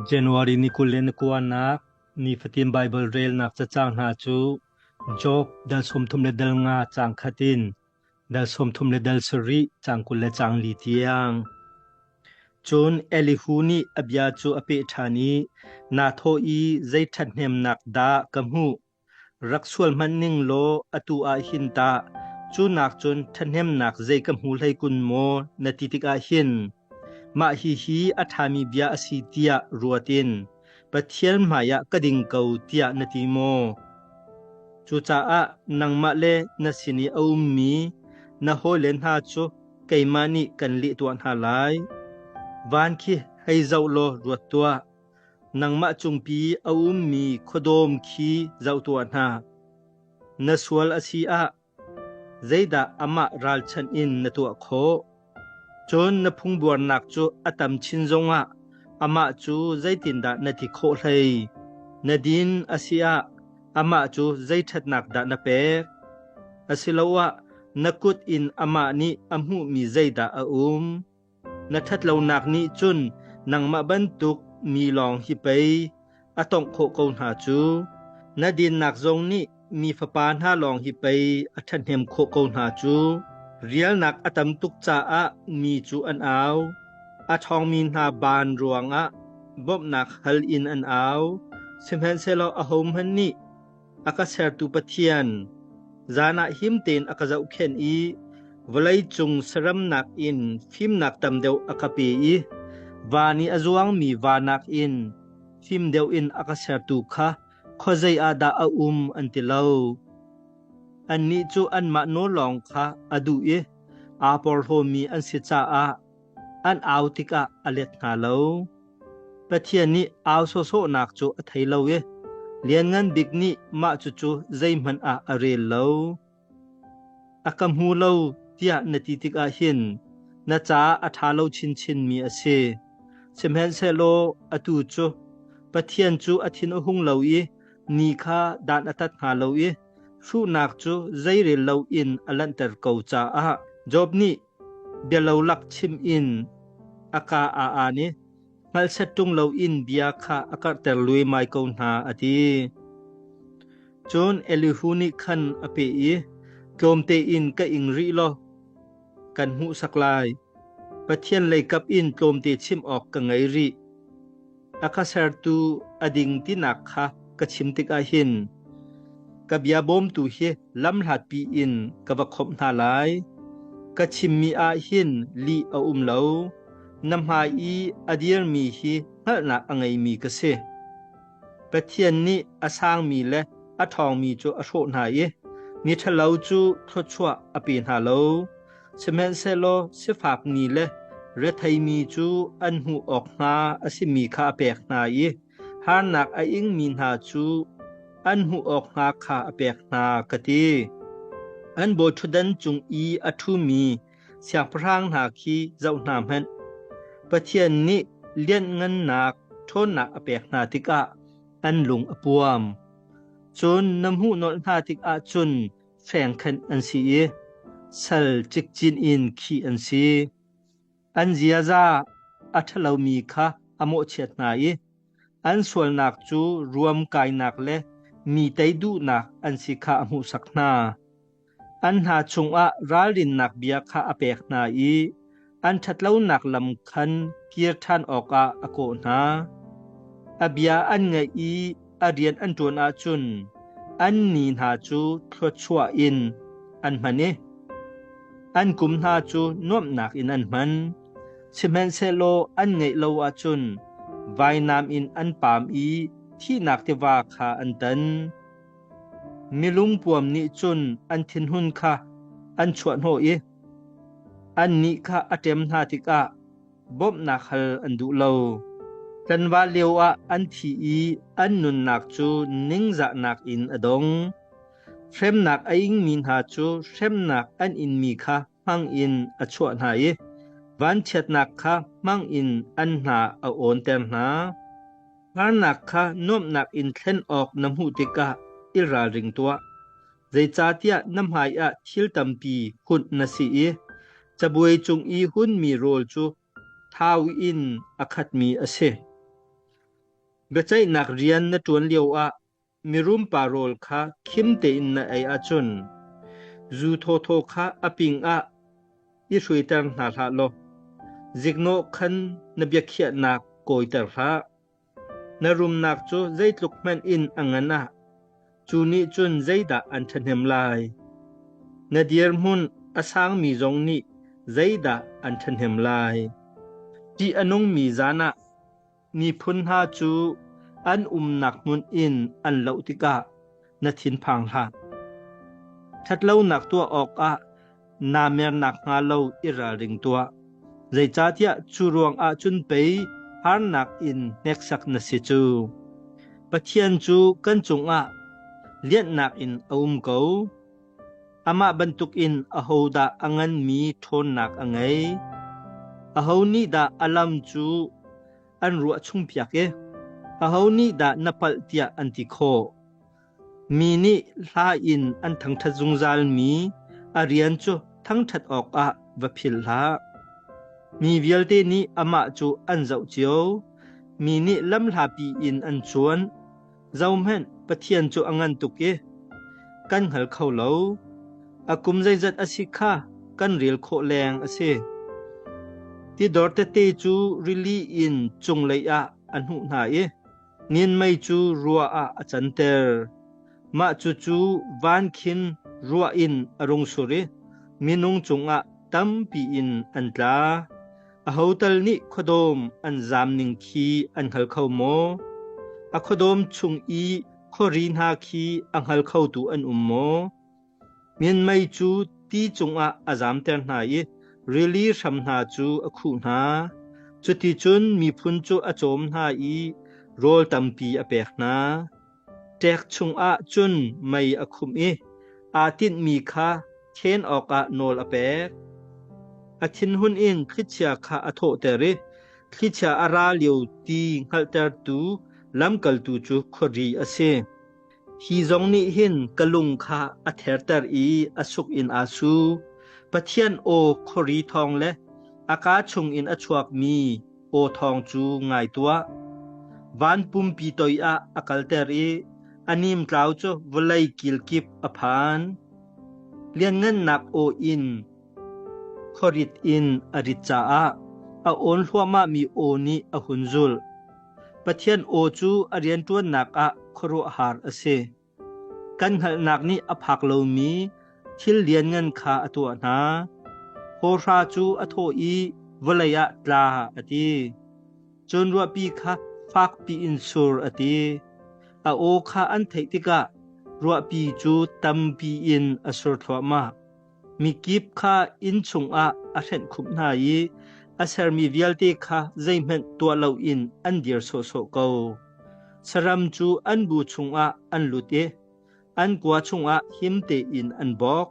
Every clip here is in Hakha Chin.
January ni kul le ni kuanak nifatin Baibal relnak cacang hna cu Job dal sawmthum le dal nga cang khat in dal sawmthum le dal sarih cang kul le cang li tiang. Cun Elihu nih a bia cu a peh ṭhan i, Naa thawh i zei ṭhathnemnak dah ka hmuh? Rak sual hmanh ning law atu ah hin tah cu nakcun ṭhahnemnak zei ka hmu hlei kun maw, na ti tikah hin mah hihi a ṭhami bia a si tiah ruat in Pathian hmaiah ka ding ko tiah na ti maw? Cucaah nangmah le na sin i a ummi na hawile hna cu keimah nih kan leh tuah hna lai. Van khi hei zoh law ruat tuah. Nangmah cungpi a ummi khuadawm khi zoh tuah hna. Na sual a si ah zeidah amah ralchanh in na tuah khawh? Cun na phungbuarnak cu a tam chin zongah amah cu zeitindah na ti khawh hlei? Na din a si ah amah cu zei ṭhatnak dah na pek? Asiloah na kut in amah nih a hmuhmi zeidah a um? Na ṭhatlonak nih cun nangmah bantuk mi lawng hi pei a tongh khawh ko hna cu. Na dinnak zong nih mi fapa hna lawng hi pei a ṭhahnem khawh ko hna cu. Rialnak a tam tuk caah mi cu an au; a ṭhawngmi hna ban ruangah bawmhnak hal in an au; sihmanhsehlaw ahohmanh nih, a ka sertu Pathian, zan ah him tein a ka zohkhenh i vawlei cung saramnak in fimnak tam deuh a ka pe i van i a zuangmi vanak in fim deuh in a ka sertu kha khuazei ah dah a um an ti lo. Annih cu anmah nawl lawng kha a duh i aa porhlawmi an si caah an au tikah a let hna lo. Pathian nih au sawsawhnak cu a thei lo i Lianngan Bik nih mah cucu zeihmanh ah a rel lo. A ka hmu lo tiah na ti tikah hin na caah a ṭha lo chinchinmi a si. Sihmanhsehlaw atu cu Pathian cu a thin a hung lo i ni kha dan a tat hna lo i hruhnak cu zeirel loin a lanhter ko caah Job nih Bialolak chim in a ka a aan i hngalset ṭung loin bia kha a karhter luimai ko hna, a ti. Cun Elihu nih khan a peh i, Tlawmte in ka ing rih law kan hmuhsak lai. Pathian leikap in tlawmte chim awk ka ngei rih. a kha sertu a ding tinak kha ka chim tikah hin ka bia bawmtu hi lam hlatpi in ka va khawmh hna lai ka chimmi ah hin li a um lo na hmai i a dirmi hi hngalhnak a ngeimi ka si pathian nih a sangmi le a ṭhawngmi cu a hrawh hna i miṭhalo cu thluachuah a pe hna lo Sihmanhsehlaw sifak ni le retheimi cu an hmuh awk hnga a simi kha a pek hna i harnak a ingmi hna cu an hmuh awk hnga kha a pek hna, ka ti. An bawiṭhutdan cung i a ṭhumi siangpahrang hna khi zoh hna hmanh. Pathian nih lianhngannak ṭhawnnak a pek hna tikah an lung a puam. Cun na hmuhnawlh hna tikah cun fengkhenh an si i sal cikcin in khi an si. An ziaza a ṭhalomi kha a mawhchiat hna i an sualnak cu ruam kainak le mi tei duhnak an si kha a hmuhsak hna. An hna chungah ralrinnak bia kha a pek hna i an ṭhatlonak lam khan kir ṭhan awkah a kawh hna. A bia an ngaih i a rian an ṭuan ahcun an ni hna cu thluachuah in an hman i an kum hna cu nuamhnak in an hman. Sihmanhsehlaw an ngeih lo ahcun vainam in an pam i thihnak tiva kha an tan. Milungpuam nih cun an thinhun kha an chuahhnawh i Annih kha a ṭem hna tikah bawmhnak hal an duh lo. Ṭanva lioah an thi i an nunnak cu ningzahnak in a dong. Hremnak a ingmi hna cu hremnak an inmi kha hmangin a chuah hna i vanchiatnak kha hmangin an hna a awnter hna. Hngalnak kha nuamhnak in thlen awk na hmuh tikah i ralring tuah. Zeicahtiah na hmaiah thil tampi hunh na si i cabuai cung i hunmi rawl cu thau in a khatmi a si. Biaceihnak rian na ṭuan lioah mirumpa rawl kha khim tein na ei ahcun zu thawthaw kha a ping ah i hruaiter hna hlah law ziknawh khan na biakhiahnak kawiter hlah. Na rumnak cu zeitluk hmanh in a ngan ah cu nih cun zeidah an ṭhahnem lai? Na dirhmun a sangmi zong nih zeidah an ṭhahnem lai? Ṭih a nungmi zan ah miphun hna cu an umnak hmun in an loh tikah na thinphang hlah. Ṭhatlonak tuah awkah naa mer nakhnga lo i ralring tuah. Zeicahtiah cu ruangah cun pei harnak in hneksak na si cu. Pathian cu kan cungah lianhnak in a um ko. Amah bantukin ahodah a nganmi ṭhawnnak a ngei? Aho nih dah a lam cu an ruah chung piak i aho nih dah na palh tiah an ti khawh. Mi nih hla in an thangṭhat zungzal mi a rian cu thangṭhat awkah va phil hlah. Mi vialte nih amah cu an zoh cio. Mi nih lam hlapi in an cuan. Zohhmanh, Pathian cu a ngan tuk i kan hngal kho lo. A kum zeizat a si kha kan rel khawh leng a si. Tidor tete cu rili in cunglei ah a hnuh hna i nianmei cu rua ah a canter. Mah cucu van khin rua in a rung sur i minung cungah tampi in an tla. Aho tal nih khuadawm an zam ning khi an hngal kho maw? A khuadawm chung i khuari hna khi a hngal khotu an um maw? Mianmei cu ti cungah a zamter hna i rili hram hna cu a khuh hna. Cuticun miphun cu a cawm hna i rawl tampi a pek hna. Ṭek chungah cun mei a khum i aa tinhmi kha ṭhen awkah nawl a pek. A thinhun in thlichia kha a thawhter i thlichia a ra lio ti hngalhtertu lamkaltu cu khuari a si. Hi zong nih hin ka lung kha a therter i a suk in aa su. Pathian aw khuari thawng le a kaa chungin a chuakmi aw thawng cu ngai tuah. Van pumpi toi ah a kalter i a nimtlau cu vawlei kilkip a phan. Lianngannak aw in khorit in a rit caah a awn hluahmah mi aw nih a hun zulh. Pathian aw cu a rianṭuannak ah khuaruahhar a si. Kan hngalhnak nih a phak lomi thil lianngan kha a tuah hna. Hawhra cu a thawh i vawlei ah tla a ti. Cun ruahpi kha fakpi in sur a ti. A aw kha an theih tikah ruahpi cu tampi in a sur thluahmah. Mikip kha inn chungah a hrenhkhumh hna i a sermi vialte kha zeihmanh tuah loin an dir sawhsawh ko. Saram cu an bu chungah an lut i an kua chungah him tein an bawk.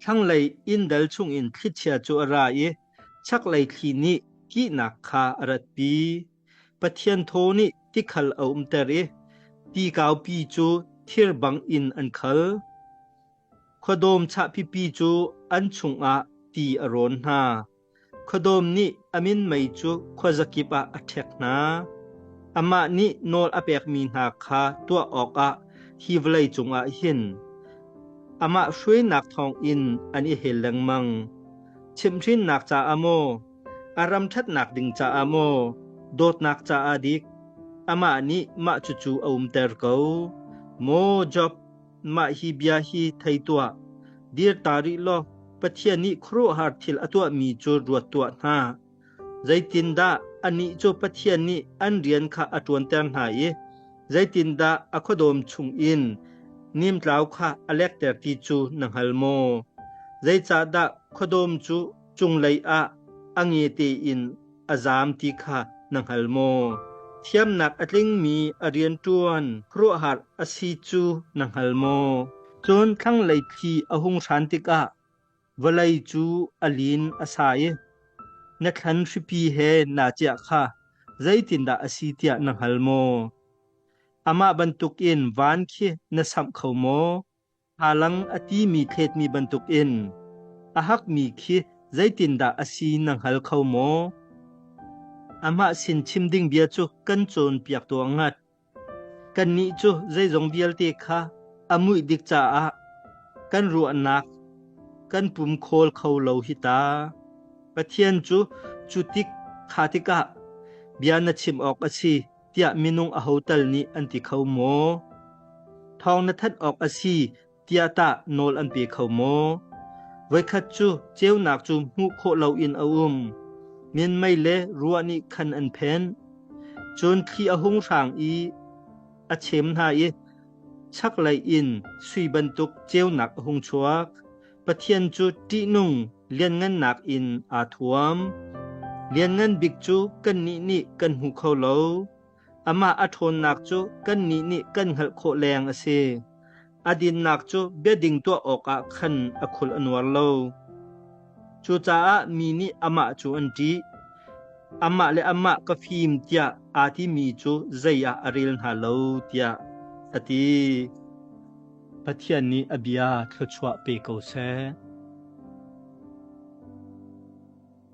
Thlanglei inndal chungin thlichia cu a ra i chaklei thli nih kihnak kha a ratpi. Pathian thaw nih tikhal a umter i ti kaupi cu thir bangin an khal. Khuadawm chahpipi cu an chungah ti a rawn hna. Khuadawm nih a min mei cu khuazakip ah a ṭhek hna. Amah nih nawl a pekmi hna kha tuah awkah hi vawlei cungah hin amah hruainak thawngin an i hel lengmang. Chimhhrinnak caah maw, a ram ṭhatnak ding caah maw, dawtnak caah dik, amah nih mah cucu a umter ko. Maw Job, Mah hi bia hi thei tuah. Dir ta rih law Pathian nih khuaruahhar thil a tuahmi cu ruat tuah hna. Zeitindah anih cu Pathian nih an rian kha a ṭuanter hna i zeitindah a khuadawm chung in nimtlau kha a lekter ti cu na hngal maw? Zeicahdah khuadawm cu cunglei ah a nge tein a zaam ti kha na hngal maw? Thiamnak a tlingmi a rianṭuan khuaruahhar a si cu na hngal maw? Cun thlanglei thli a hung hran tikah vawlei cu a lin a sa i na thlan hripi he naa ciah kha zeitindah a si tiah na hngal maw? Amah bantukin van khi na samh kho maw? Thalang a timi thletmi bantukin a hakmi khi zeitindah a si na hngal kho maw? Amah sin chim ding bia cu kan cawnpiak tuah ngat. Kannih cu zeizong vialte kha a muih dik caah kan ruahnak kan pum khawl kho lo hi ta. Pathian cu cu tik kha tikah bia na chim awk a si. tiah minung aho tal nih an ti kho maw? Thawng na thanh awk a si tiah tah nawl an pe kho maw? Voikhat cu ceunak cu hmuh khawh loin a um. Min mei le ruah nih khan an phen. Cun thli a hung hrang i a chem hna i chaklei in sui bantuk ceunak a hung chuak. Pathian cu ṭihnung lianngannak in aa thuam. Lianngan bik cu kannih nih kan hmu kho lo. Amah a ṭhawnnak cu kannih nih kan hngalh khawh leng a si. A dinnak cu biading tuah awkah khan a khul a nuar lo. Cucaah mi nih amah cu an ṭih. Amah le amah ka fim tiah aa timi cu zei ah a rel hna lo tiah a ti. Pathian nih a bia thluachuah pe ko seh.